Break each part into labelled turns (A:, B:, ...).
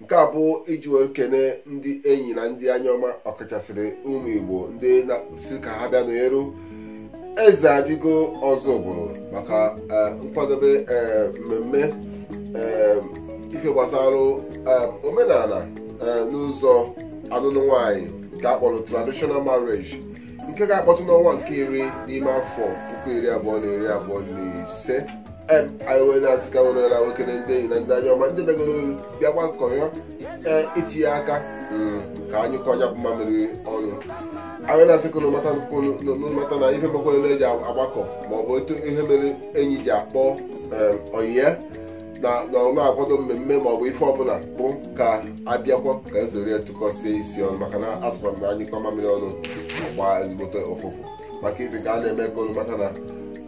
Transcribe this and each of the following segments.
A: nke a bụ iji were kene ndị enyi na ndị anya ọma ọkachasịrị ụmụ igbo ndị na-asị ka ha bịa n'eru eze adịgo ọzọ ọ bụrụ maka nkwadobe mmemme ife gbasara omenala n'ụzọ alụlụ nwanyị nke a kpọrọ traditional marriage nke ga-akpọtụ n'ọnwa nke iri n'ime afọ puku iri abụọ na iri abụọ na ise em anyị wee na-asị ka were na-ekene ndị enyi na ndị anya ọma ndị begoro bịa gbakọọ ee itinye aka mm, ka a nyụkọọ nya bụ mamịrị ọnụ anyị na-asị ka unu mata nnukwu unu- unu- unu mata na ihe mekwa unu ji agbakọ maọbụ otu ihe mere enyi ji akpọ em, ọyị ya na na ọ na-akwado mmemme ma ọ bụ ife ọbụla bụ ka a bịakwa ka e zuru tụkọsie isi ọnụ maka na a sịkwa na a nyụkọọ mamịrị ọnụ ọ gbaa ezigbote ụfụfụ maka ife ka a na-eme ka unu mata na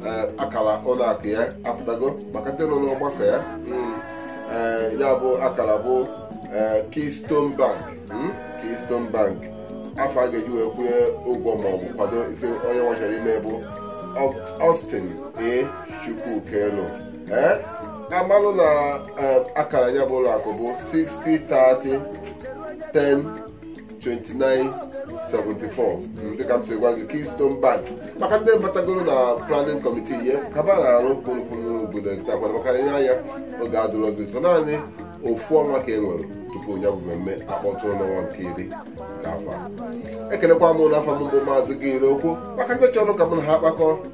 A: ee, akara ụlọ akụ ya apụtago maka ndị nọ n'ọgbakọ ya mm, ee, ya bụ akara bụ ee, Keystone Bank mm, Keystone Bank afa a ga-eji wee kwụnye ụgwọ ma ọ bụ kwado ife onye nwa chọrọ ime bụ Austin A. Chukwukelu ee a malụ na eh, akara ya bụ ụlọ akụ bụ 6030 10 29 74 Mm, dịka m si gwa gị Keystone Bank maka ndị batagoro na planning committee ihe kaba na-arụ kwụrụkwụrụ obodo takwara maka ihe anya oge adịrọzi so naanị ofu ọnwa ka e nwere tupu ya bụ mmemme akpọtụ n'ọnwa nke iri nke afọ a. ekelekwa m n'afa m bụ maazị gị ire okwu maka ndị chọrọ ka mụ na ha kpakọọ